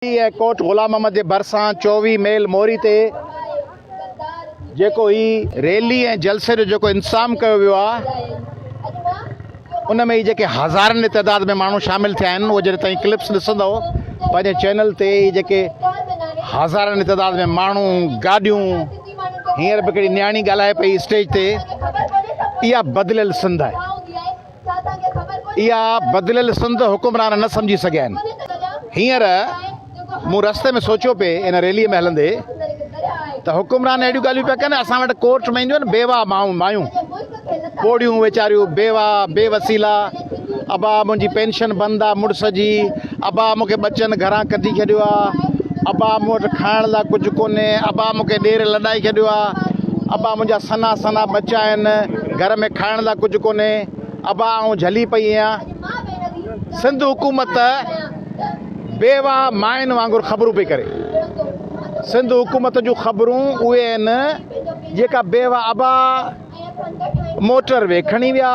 هي ڪوٽ غلام محمد جي ڀرسان چوويهه ميل موري تي جيڪو هي ريلي ۽ جلسي جو جيڪو انتظام ڪيو ويو آهي ان ۾ هي جيڪي هزارن جي تعداد ۾ ماڻهو شامل ٿيا آهن اهي جڏهن توهين ڪلپس ڏسندو پنهنجي چينل تي هي جيڪي هزارن جي تعداد ۾ ماڻهو گاڏيون هينئر به هڪڙي نياڻي ڳالهائي پئي اسٽيج تي اها بدليل سنڌ آهي اها بدليل سنڌ حڪمران نه سمجهي سگهيا آهن. هينئر مون رستي ۾ سوچيو پئي ان ريليء ۾ هلندي ته حڪمران اهڙيون ڳالهيون پيا ڪن اسان وٽ ڪورٽ ۾ اينديون آهن بيواهه مائون مايون پوڙهيون ويچاريون بيواهه بي وسيلا ابا منهنجي پينشن بند آهي مڙس جي ابا مون کي ٻچن گهران ڪڍي ڇڏيو آ ابا مون وٽ کائڻ لا ڪجهه ڪونهي ابا مون کي ڏير لڏائي ڇڏيو آ ابا منهنجا سنا سنا ٻچا آهن گهر ۾ کائڻ لا ڪجهه ڪونهي ابا آئون جهلي پئي آهيان سنڌ حڪومت بيواهه ماين وانگر خبرون پئي ڪري سنڌ حڪومت جون خبرون اهي آهن جيڪا بيواهه ابا موٽر وي کڻي ويا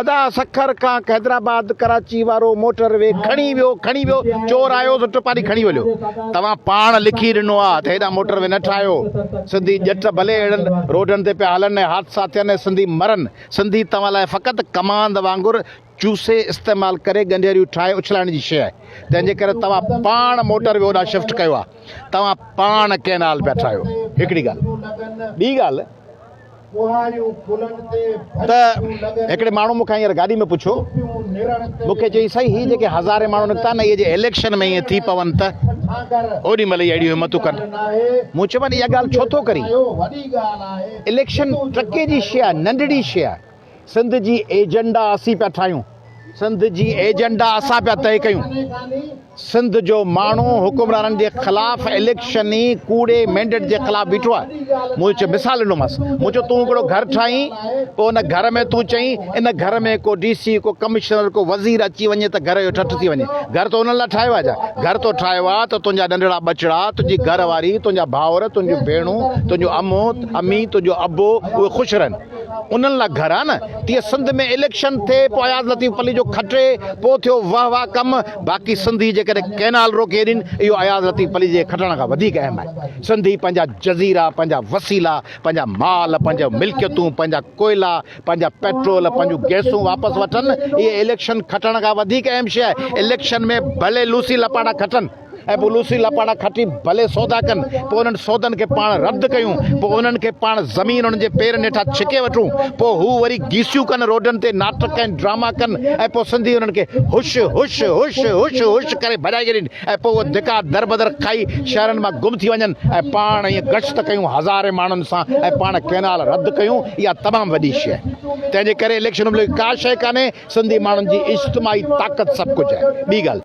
ادا سکر کان حيدرآباد ڪراچي وارو موٽر وي کڻي ويو کڻي ويو چور آيو سو ٽپاري کڻي وليو توهان پاڻ لکي ڏنو آ ته هيڏانهن موٽر وي نه ٺاهيو سنڌي ڄٽ ڀلي اهڙن روڊن تي پيا هلن ۽ حادثا ٿين ۽ سنڌي مرن سنڌي توهان لاء فقط ڪماند وانگر چوسي استعمال ڪري ڳنڍيريون ٺاهي اڇلائڻ جي شيء آهي تنهن جي ڪري توهان پاڻ موٽر وي هوڏانهن شفٽ ڪيو آ توهان پاڻ ڪينال پيا ٺاهيو هڪڙي ڳالهه ٻي ڳالهه ته هڪڙي ماڻهو مون کان هينئر گاڏي ۾ پڇيو، مون کي چيائين، سائين هي جيڪي هزارين ماڻهو نڪتا آهن نه اهي جي اليڪشن ۾ ائين ٿي پون ته اوڏي مهل ئي اهڙيون همتون ڪن. مون چيومانس اها ڳالهه ڇو ٿو ڪرين؟ اليڪشن ٽرڪي جي شيء آهي، ننڍڙي شيء آهي. سنڌ جي ايجنڊا اسين پيا ٺاهيون، سنڌ جي ايجنڊا اسان پيا طئي ڪيون، سنڌ جو ماڻهو حڪمرانن جي خلاف اليڪشني ڪوڙي مينڊيٽ جي خلاف بيٺو آهي، مون چيو مثال ڏنومانس، مون چيو تون هڪڙو گهر ٺاهين پوء ان گهر ۾ تون چئين ان گهر ۾ ڪو ڊي سي ڪو ڪمشنر ڪو وزير اچي وڃي ته گهر جو ٺٺ ٿي وڃي، گهر تو انهن لاء ٺاهيو آهي ڇا، گهر تو ٺاهيو آهي ته تنهنجا ننڍڙا ٻچڙا، تنهنجي گهر واري، تنهنجا ڀائر، تنهنجون ڀيڻون، تنهنجون امون، امي، تنهنجو ابو اهي خوش رهن. انهن لا گهر آ نه تيئن سنڌ ۾ اليڪشن ٿئي پو اياز لطيف پلي جو کٽي پو ٿيو واه واه ڪم باقي سنڌي جيڪڏهن ڪينال روڪي ڏين اهو اياز لطيف پلي جي کٽڻ کان وڌيڪ اهم آهي سنڌي پنهنجا جزيرا پنهنجا وسيلا پنهنجا مال پنهنجا ملڪيتون پنهنجا ڪوئلا پنهنجا پيٽرول پنهنجون گيسون واپس وٺن اهي اليڪشن کٽڻ کان وڌيڪ اهم شي آهي اليڪشن ۾ ڀلي لوسي لپاٽا کٽن ۽ پوء لوسي لپاٽا کٽي ڀلي سودا ڪن، پوء انهن سودن کي پاڻ رد ڪيون، پوء انهن کي پاڻ زمين انهن جي پيرن هيٺان ڇڪي وٺون، پوء هو وري گيسيون ڪن، روڊن تي ناٽڪ ۽ ڊراما ڪن ۽ پوء سنڌي انهن کي هش هش هش هش هش ڪري ڀڄائي ڇڏين ۽ پوء اهي ڌڪا دربدر کائي شهرن مان گم ٿي وڃن ۽ پاڻ ائين گشت ڪيون هزارين ماڻهن سان ۽ پاڻ ڪئنال رد ڪيون، اها تمام وڏي شيء آهي. تنهن جي ڪري اليڪشن بلڪ ڪا شيء ڪانهي، سنڌي ماڻهن جي اجتماعي طاقت سڀ ڪجهه آهي. ٻي ڳالهه.